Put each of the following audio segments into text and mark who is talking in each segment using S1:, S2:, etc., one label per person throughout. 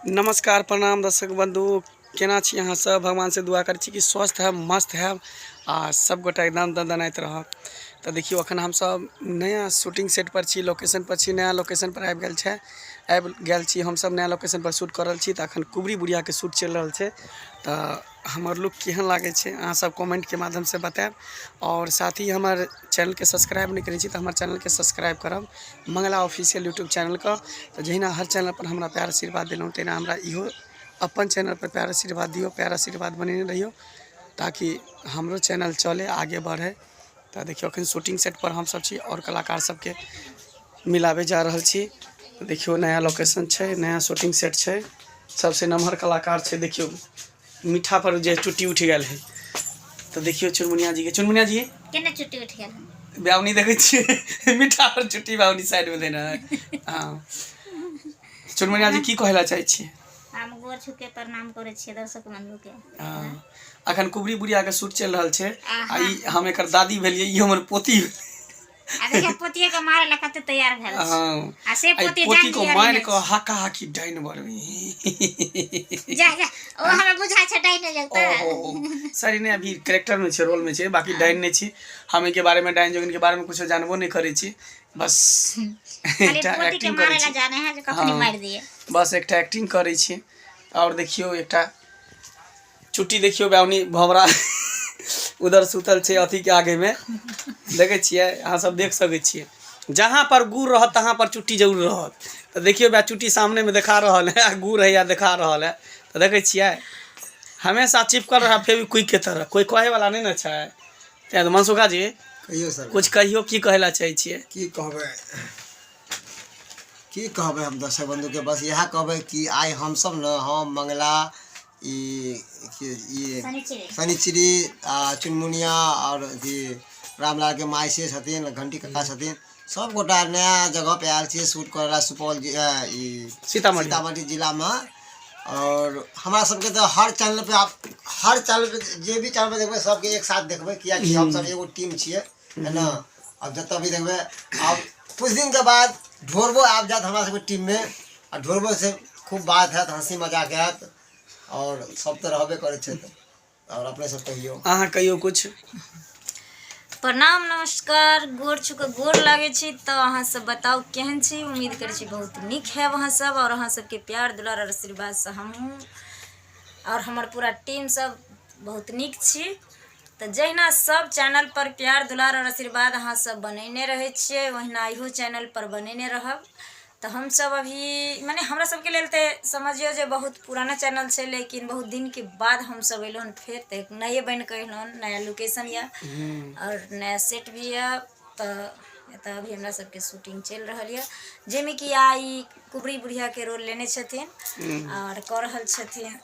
S1: नमस्कार प्रणाम दर्शक बंधु केना छी अहाँ सब भगवान से दुआ करै छी कि स्वस्थ है मस्त है आ सब गोटा एकदम दनदनाइत रह तऽ देखियौ अखन हम सब नया शूटिंग सेट पर छी लोकेशन पर छी नया लोकेशन पर आबि गेल छै आबि गेल छी हम सब नया लोकेशन पर शूट कर रहल छी तऽ अखन कुबरी बुढ़िया के शूट चलि रहल छै तऽ हमर लुक केहन लागै छै अहाँ सब कमेन्ट के माध्यम से बतायब आओर साथ ही हमर चैनल के सब्सक्राइब नहि करै छी तऽ हमर चैनल के सब्सक्राइब करब मंगला ऑफिशियल यूट्यूब चैनल के तऽ जहिना हर चैनल पर हमरा प्यार आशीर्वाद देलहुँ तहिना हमरा इहो अपन चैनल पर प्यार आशीर्वाद दियौ प्यार आशीर्वाद बनेने रहियौ ताकि हमरो चैनल चलै आगे बढ़ै तऽ देखियौ अखन शूटिंग सेट पर हमसब छी आओर कलाकार सबके मिलाबे जा रहल छी देखियौ नया लोकेशन छै नया शूटिंग सेट छै सबसे नमहर कलाकार छै देखियौ मीठा पर जे चुट्टी उठि गेल है तऽ देखियौ चुनमुनिया जी के चुनमुनिया जी केना चुट्टी उठि
S2: गेल है ब्यावनी देखै छियै
S1: मीठा पर चुट्टी ब्यावनी साइड में देना है हाँ चुनमुनिया जी की कहै ला चाहै छियै
S2: हम गोर छू के प्रणाम करे छिए दर्शक बंधु के हाँ।
S1: अखन कुबरी बुढ़िया के शूट चल रहा है आ ई हम एक दादी भेलिए ई हमर पोती अरे
S2: पोतिए के मारे ला कते तैयार भेल हां आ से पोती
S1: पोती
S2: को मार को
S1: हका हकी डाइन बरवी जा
S2: जा ओ हमरा बुझा छ डाइन लगता सॉरी
S1: ने अभी कैरेक्टर में छे रोल में छे बाकी डाइन ने छी हम के बारे में डाइन जोगिन के बारे में कुछ जानबो नहीं करे छी बस खाली एकटा
S2: पोती के एक्टिंग मारे करै ला छी जाने है जे कखनी हाँ। मार दिए बस एकटा एक्टिंग करै छी
S1: आओर देखियौ एकटा चुट्टी देखियौ बाउनी भवरा उधर सुतल छै अथी के आगे में देखै छियै अहाँ सब देख सकै छियै जहाँ पर गुड़ रहत तहाँ पर चुट्टी जरूर रहत तऽ देखियौ बा चुट्टी सामने में देखा रहल है आ गुड़ है या देखा रहल है तऽ देखै छियै हमेशा चिपकल रहा फेविक्विक के तरह कोई कहे वाला नहीं ना छै तैं तऽ मनसुखा जी कहियो सर कुछ
S3: कहियो की कहै लए
S1: चाहै छियै की कहबै
S3: की कहबै हम दर्शक बंधुके बस इएह कहबै कि आइ हमसभ ने हम मंगला ई की- ई शनिचरी। शनिचरी आ चुनमुनिया आओर अथी रामलालके माय से छथिन घंटी काका छथिन सभगोटा नया जगहपर आयल छियै शूट करय लए सुपौल जि- अ, ई सीतामढ़ी। सीतामढ़ी जिलामे आओर हमरा सभके तऽ हर चैनलपर आब हर चैनलपर जे भी चैनलपर देखबै सभके एक साथ देखबै किएकि हमसभ एगो टीम छियै है ने आब जतऽ भी देखबै आब कुछ दिनके बाद ढोरबो आबि जायत हमरा सभके टीममे आ ढोरबोसँ खूब बात हैत हँसी मजाक हैत आओर सभ तऽ रहबे करै छै तऽ और अपने सब कहियो अहाँ कहियो कुछ
S2: प्रणाम नमस्कार गोर छुक गोर लागे छी तो अहाँ सब बताओ केहन छी उम्मीद करे छी बहुत निक है वहाँ सब और अहाँ सबके प्यार दुलार और आशीर्वाद से हम और हमार पूरा टीम सब बहुत निक छी तो जहिना सब चैनल पर प्यार दुलार और आशीर्वाद अहाँ सब बनेने रहे छे वहिना इहो चैनल पर बनेने रहब तऽ हमसभ अभी मने हमरा सभके लेल तऽ समझियौ जे बहुत पुराना चैनल छै लेकिन बहुत दिनके बाद हमसभ अयलहुँ हन फेर तऽ एक नए बनि कऽ अयलहुँ हन नया लोकेशन यए आओर नया सेट भी यए तऽ एतय अभी हमरा सभके शूटिंग चलि रहल यए जाहिमे कि आइ कुबरी बुढ़ियाके रोल लेने छथिन आओर कऽ रहल छथिन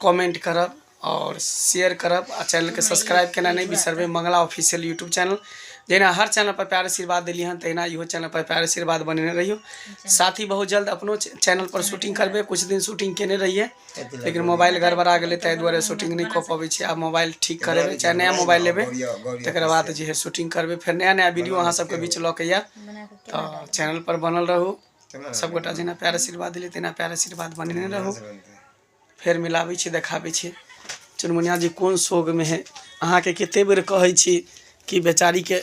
S1: कमेंट करब आओर शेयर करब आ चैनलके सब्सक्राइब केना नहि बिसरबै मंगला ऑफिशियल यूट्यूब चैनल जहिना हर चैनल पर प्यार आशीर्वाद देलियै हन तहिना इहो चैनल पर प्यार आशीर्वाद बनेने रहियो साथ ही बहुत जल्द अपनो च- चैनल पर शूटिंग करबै कुछ दिन शूटिंग केने रहियै लेकिन मोबाइल गड़बड़ा गेलै ताहि दुआरे शूटिंग नहि कऽ पबै छी आब मोबाइल ठीक करेबै चाहे नया मोबाइल लेबै तकर बाद जे है शूटिंग करबै फेर नया नया वीडियो अहाँ सबके बीच लऽ के आयब बना कऽ केना तऽ चैनल पर बनल रहू सब गोटा जेना प्यार आशीर्वाद देलियै तहिना प्यार आशीर्वाद बनेने रहू फेर मिलाबै छी देखाबै छी चुनमुनिया जी कोन शोकमे है अहाँके कते बेर कहै छी कि बेचारीके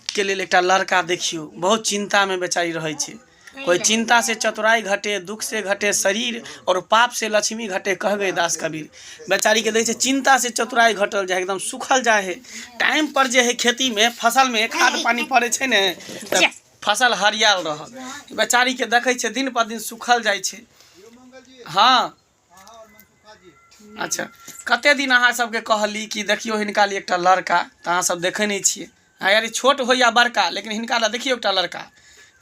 S1: के लेल एकटा लड़का देखियौ बहुत चिन्तामे बेचारी रहै छै कोइ चिन्ता से चतुराई घटे दुख से घटे शरीर और पाप से लक्ष्मी घटे कह गए दास कबीर बेचारी के दै छै चिन्ता से चतुराई घटल जाए एकदम सुखल जाए है टाइम पर जे है खेती में फसल में खाद पानी पड़े छै ने तऽ फसल हरिआएल रहल बेचारीके देखै छिए दिन पर दिन सुखल जाइ छै हँ अच्छा कतेक दिन अहाँ सबके कहली कि देखिऔ हिनका लिए एकटा लड़का तऽ अहाँ सब देखै नहि छिए हँ यार छोट होइ या बड़का लेकिन हिनका लए देखिऔ एकटा लड़का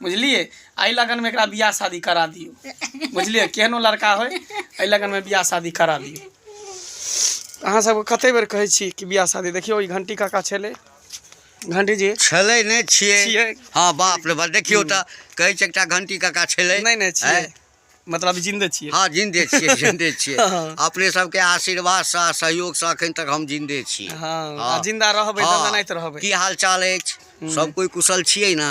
S1: बुझलिए एहि लगनमे एकरा बिआह शादी करा दिऔ बुझलिए केहनो लड़का होइ एहि लगनमे बिआह शादी करा दिऔ अहाँ सबके कतेक बेर कहै छी कि बिआह शादी देखिऔ ई घण्टी काका छलै घंटी जी छलै नहि छियै
S4: छियै। हँ बाप रे बाप देखियौ तऽ कहै छै एकटा घंटी काका छलै नहि नहि छियै
S1: आँय? मतलब जिंदे छियै हँ जिंदे छियै जिंदे
S4: छियै हँ। अपने सबके आशीर्वादसँ आ सहयोगसँ अखन तक हम जिंदे छी हँ आ जिंदा
S1: रहबै हँ। दंदनाइत रहबै की हाल चाल अछि
S4: सब कोइ कुशल छियै ने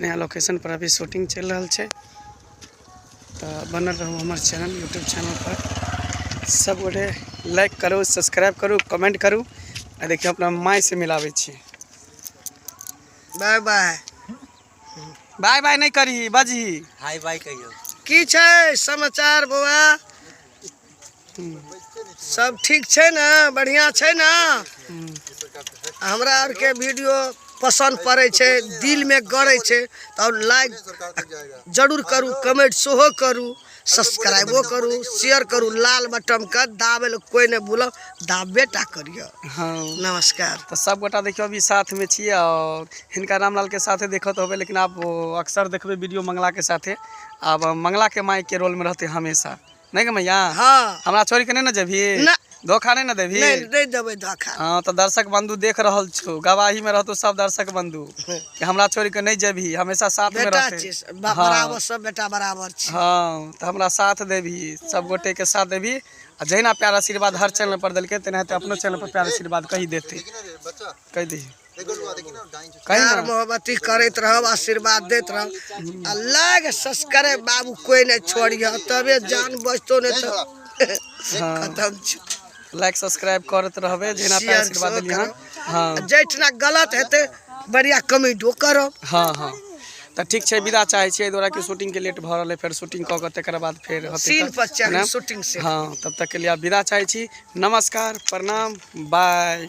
S1: नया लोकेशन पर अभी शूटिंग चलि रहल छै तऽ बनल रहू हमर चैनल यूट्यूब चैनल पर सब गोटे लाइक करू सब्सक्राइब करू कमेंट करू आ देखियौ अपना माय से मिलाबै छी बाय
S3: बाय
S1: बाय बाय नहि करही बजही हाय बाय कहियो
S4: की छै
S3: समाचार बौआ सब ठीक छै ने बढ़िया छै ने हमरा आर के वीडियो पसंद पड़े छै दिल में गड़े छै तो लाइक जरूर करू कमेंट सेहो करू सब्सक्राइबो करू शेयर करू लाल बटन के दाबे ले कोई ने भूलो दाबे टा करियो हाँ नमस्कार
S1: तो
S3: सब गोटा देखियो
S1: अभी साथ में छिए और हिनका रामलाल के साथे देखत होबे लेकिन आप अक्सर देखबे वीडियो मंगला के साथे अब मंगला के माई के रोल में रहते हमेशा नहीं गे मैया हाँ हमरा छोड़ के
S3: नहीं ना जेबी
S1: ना धोखा नहीं
S3: ना देबी
S1: नहीं नहीं देवे धोखा
S3: हाँ तो दर्शक बंधु
S1: देख रहल छो गवाही में रहतो सब दर्शक बंधु कि हमरा छोड़ के नहीं जेबी हमेशा साथ में बेटा रहते छी बा- हाँ।
S3: बराबर
S1: सब
S3: बेटा बराबर छी हाँ तो हमरा
S1: साथ देबी सब गोटे के साथ देबी आ जहिना प्यार आशीर्वाद हर चैनल पर देलके तेनाहिते अपनो चैनल पर प्यार आशीर्वाद कही देते
S3: कहि दही प्यार मोहब्बती करैत रहब आशीर्वाद दैत रहब आ लाग सस्करे बाबू कोई नहीं छोड़िया तबे जान बचतो नहीं तो हाँ। खत्म छै लाइक सब्सक्राइब
S1: करत रहबे जेना पे Share आशीर्वाद सेहो देलिए हन करब। हाँ जैठना गलत
S3: हेतै बढ़िया कमेंटो करब हाँ हाँ
S1: तऽ ठीक छै विदा चाहै छियै एहि दुआरे कि शूटिंग के लेट भऽ रहल है फेर शूटिंग कऽ कऽ तकर बाद फेर होतै सीन तऽ- पर चढ़ ने? शूटिंग
S3: से हाँ
S1: तब तक के
S3: लिए आप
S1: विदा चाहै छी
S3: नमस्कार
S1: प्रणाम बाय